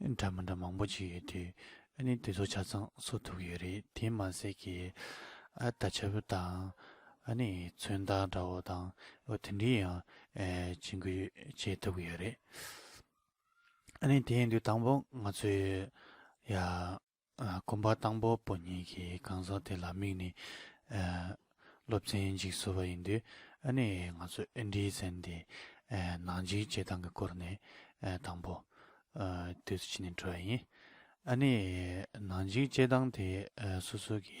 འདྲ་མི་འདྲ་མང་པོ་ཅིག་ཡོད་དུས་ཨ་ནི་དེ་ཚོ་ཆ་ཚང་བཟོ་ཐུབ་ཡོད་རེད་དེ་མ་ཟད་ཀྱི་ཨ་ད་ཆ་བུ་དང་ཨ་ནི་མཚོན་རྟགས་འདྲ་བོ་དང་བོ་དེ་འདྲི་ཡང་བྱེད་འགུལ་བྱེད་ཐུབ་ཡོད་རེད་ཨ་ནི་དེ་ཡིན་དུས་དང་པོ་ང་ཚོས་ཡ། དགོན་པ་དང་པོ་པོ་གཉིས་ཀྱི་གང་ཟག་དེ་ལ་དམིགས་ནས་སློབ་ཚན་ཞིག་བཟོ་བ་ཡིན་དུས་ཨ་ནེ་ཡིས་ང་ཚོས་ཨིན་དྲིའི་ཚན་དེ་ནང་འཇིག་བྱེད་སྟངས་ཀྱི་སྐོར་ནས་དང་པོ་དུས་སུ་ཕྱི་ནས་འཕྲོས་ཡིན། ཨ་ནེ་ཡིས་ནང་འཇིག་བྱེད་སྟངས་དེ་སོ་སོ་གྱི་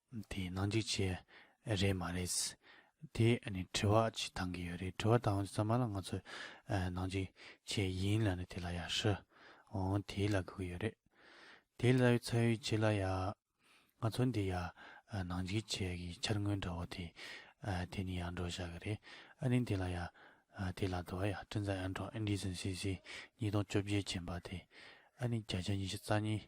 དེ་ནང་འཇིག་བྱེད་རེད་མ་རེད། དེ་ནི་དྲི་བ་ཅིག་བཏང་གི་ཡོད་རེད་དྲི་བ་བཏང་བའི་ཚང་མ་ལ་ང་ཚོ་ནང་འཇིག་བྱེད་ཡིན་ལ་ནི་དེ་ལ་ཡ་ཧྲི་འོང་དེའི་ལ་གུ་གི་ཡོད་རེད། དེའི་ལ་ཡོད་ཚ་ཡོད་བྱེད་ལ་ཡ། ང་ཚོ་འདི་ཡ་ནང་འཇིག་བྱེད་གི་འཆར་དངོས་འདྲ་བོ་དེ་དེ་ནི་ཡ་འགྲོ་བཞག་གི་རེད་ཨ་ནི་དེ་ལ་ཡ། དེའི་ལ་དུ་བ་ཡ་སྤྲིན་བཟང་ཨན་ཀྲོག Indecency སི་ཉིས་སྟོང་བཅོ་བརྒྱད་བྱིན་པ་དེ་ཨ་ནི་བརྒྱ་ཆ་ཉི་ཤུ་རྩ་གཉིས།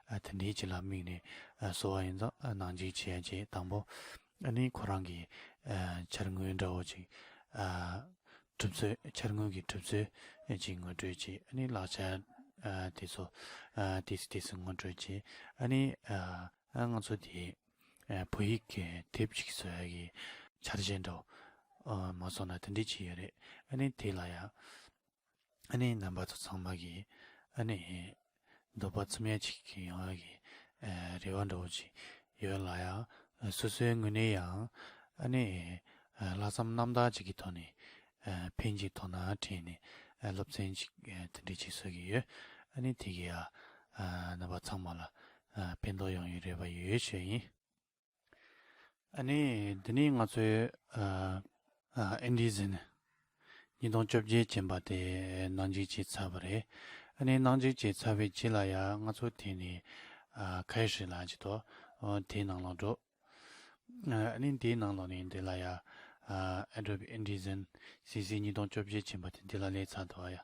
དེ་འདྲའི་སྤྱི་ལ་དམིགས་ནས་གསོ་བ་ཡིན་ཙང་ནང་འཇིག་བྱེད་ཡ་གྱལ་དང་པོ་ནི་ཁོ་རང་གི་འཆར་དངོས་འདྲ་བོ་ཅིག་གྲུབ་ཚུལ་འཆར་དངོས་ཀྱི་གྲུབ་ཚུལ་ཅིག་ངོ་སྤྲོད་བྱེད་ནི་ལག་ཆ་དེ་ཚོ་དེས་དེ་ཚོ་ངོ་སྤྲོད་བྱེད་ནི། ང་ཚོ་དེ་བོད་ཡིག་གི་དེབ་ཅིག་གསོ་ཡ་གྱི་འཆར་གཞི་འདྲ་བོ་མ་བཟོ་ན་དེ་འདྲའི་ཅི་ཡོད་རེད་ནི་དེ་ལ་ཡ། ཨ་ནེའི་རྣམ་པ་ཚོ་ཚང་མ་གིས་ཨ་ནེ་འདོད་པ་ཚིམ་ཡ་ཅིག་ཡོང་བ་གི་རེ་བ་འདྲ་བོ་ཅིག་ཡོད་ལ་ཡང་སོ་སོའི་ངོས་ནས་ཡང་ཨ་ནེ་ལྷག་བསམ་རྣམ་དག་ཅིག་གི་ཐོག་ནས་ཕན་ཅིག་དོ་སྣང་དྲན་ནས་སློབ་ཚན་ཅིག་དེ་འདྲ་བྱེད་སྲོལ་གྱི་ཡོད་ཨ་ནེ་དེ་གི་རྣམ་པ་ཚང་མ་ལ་ཕན་ཐོག་ཡོང་ཡུལ་རེ་བ་ཡོད་ཆོས་ཡིན། ཨ་ནི་འདི་ནི་ང་ཚོའི་ཨིན་ཇི་ཟི་ནི་ཉིས་སྟོང་བཅོ་བརྒྱད་ཅན་པ་དེ་ནང་འཇིག་བྱེད་ཚར་བ་རེད་ཨ་ནི་ནང་འཇིག་བྱེད་ཚར་བའི་རྗེས་ལ་ཡ་ང་ཚོ་དེ་ནི་ཁ་ཡེ་ཧྲི་ལ་ཇི་ཏོ་དེའི་ནང་ལོག་འགྲོ་ཨ་ནི་དེའི་ནང་ལོག་ནས་འདི་ལ་ཡ་ཨ་ཨེ་ཏྲོ་པི་ཨིན་ཇི་ཟི་ནི་སི་སི་ཉིས་སྟོང་བཅོ་བརྒྱད་ཅན་པ་དེ་འདི་ལ་ལས་ཚར་དུ་བ་ཡ།